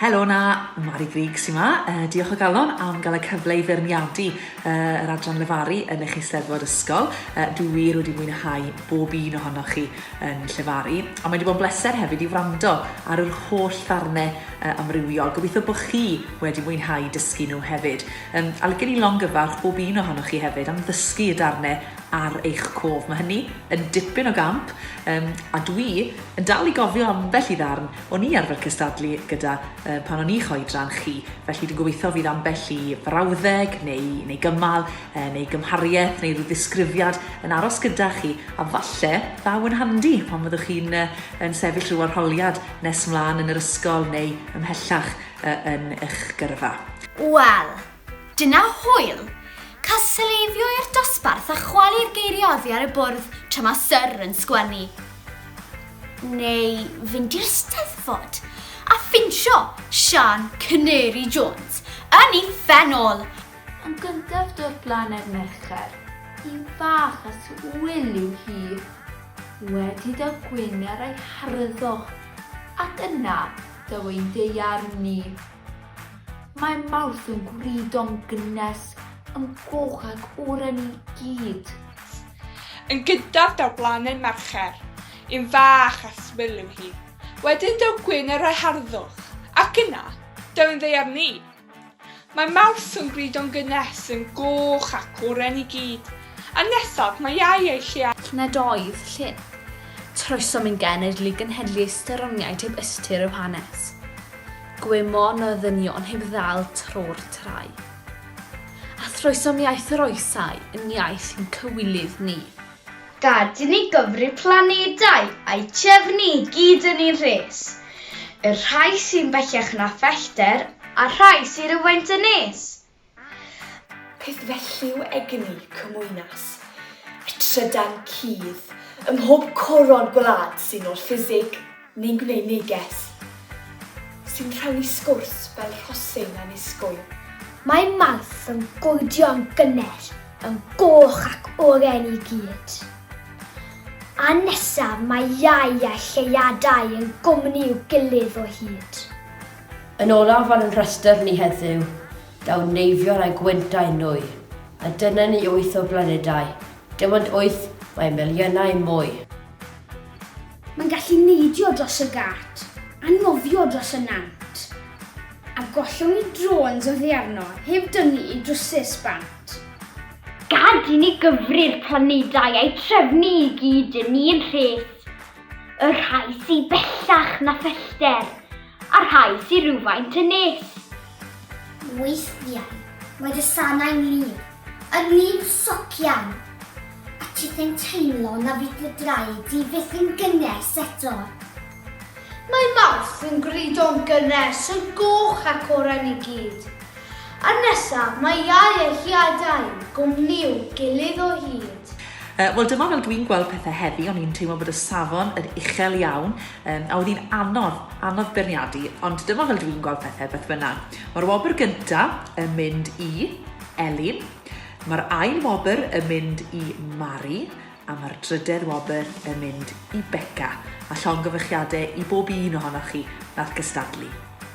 Helo 'na, Mari Grug sy'n ma. Uh, diolch o galon am gael y cyfle i feirniadu uh, yr adran lefaru yn eich eisteddfod ysgol. Uh, dwi wir wedi mwynhau bob un ohonoch chi yn llefaru. A mae wedi bod yn bleser hefyd i wrando ar yr holl ddarnau uh, amrywiol. Gobeithio bod chi wedi mwynhau dysgu nhw hefyd. Um, a lygen i longyfarch bob un ohonoch chi hefyd am ddysgu y darnau ar eich cof. Mae hynny yn dipyn o gamp, um, a dwi yn dal i gofio ambell i ddarn o'n i arfer cystadlu gyda uh, pan o'n i'ch oedran chi. Felly dwi'n gobeithio fydd ambell i frawddeg neu, neu gymal, uh, neu gymhariaeth, neu rhyw ddisgrifiad yn aros gyda chi, a falle ddaw yn handi pan fyddwch chi'n uh, yn sefyll rhyw arholiad nes mlaen yn yr ysgol neu ymhellach uh, yn eich gyrfa. Wel, Dyna hwyl! Cael sylweibio i'r dosbarth a chwalu'r geiriau oddi ar y bwrdd tra mae Syr yn sgwennu. Neu fynd i'r Steddfod a ffinsio Siân Canary Jones yn ei phen ôl! Yn gyntaf dod lan ar Mercher, hi'n fach a swil yw hi. Wedi iddo gwyn ar ei harddwch ac yna daw ei ddaearn i. Mae Mawrth yn gwrido'n gynnes, yn goch ac oren i gyd. Yn gyntaf daw Blaned Mercher, un fach a swil yw hi. Wedyn daw Gwyn a rhai harddwch, ac yna, daw un ddaear ni. Mae Mawrth yn gwrido'n gynnes, yn goch ac oren i gyd. A nesaf, mae Iau a'i lle ar. Nid oedd llun. Troesom i'n genedl i gynhedlu ystyr ryngiaid heb ystyr i'w hanes. Gwymon y ddynion heb ddal tro'r trai. A throesom iaith yr oesau yn iaith ein cywilydd ni. Gad i ni gyfri planedau a'u trefnu i gyd yn un rhes, y rhai sy'n bellach na phellter a'r rhai sy rywfaint yn nes. Peth felly yw egni cymwynas y trydan cudd ym mhob coron gwlad sy'n ôl ffisig neu'n gwneud neges, sy'n rhannu sgwrs fel rhosyn annisgwyl. Mae Mawrth yn godio yn gynnes, yn goch ac oren i gyd. A nesaf mae Iau a Lleuadau yn gwmni i'w gilydd o hyd. Yn olaf ar ein rhestr ni heddiw, daw Neifion a Gwynt â'i nwy, a dyna ni wyth o blanedau, dim ond wyth, mae miliynau mwy. Mae'n gallu neidio dros y gât, a nofio dros y nant. A gollwng ni drôns oddi arno, heb dynnu i drwsus bant. Gad i ni gyfri'r planedau a'u trefnu i gyd, 'yn ni'n rhes. Y rhai sydd bellach na phellter, a'r rhai sydd rhywfaint yn nes. Weithiau mae dy sanau'n lif, yn lif socian, a ti yn teimlo na fydd dy draed di fyth yn gynnes eto. Mae Mawrth yn grydo'n gynnes, yn goch ac oren i gyd. Ar nesa, mae iau a hiadau, gwmniw gilydd o hyd. Uh, Wel dyma fel dwi'n gweld pethau heddi, o'n i'n teimlo bod y safon yn uchel iawn, um, a oedd hi'n anodd, anodd berniadu, ond dyma fel dwi'n gweld pethau beth bynnag. Mae'r wobr gyntaf yn mynd i Elin, mae'r ail wobr yn mynd i Mari, a mae'r drydedd wobr yn mynd i Becca, a llongyfychiadau i bob un ohonoch chi nath gystadlu.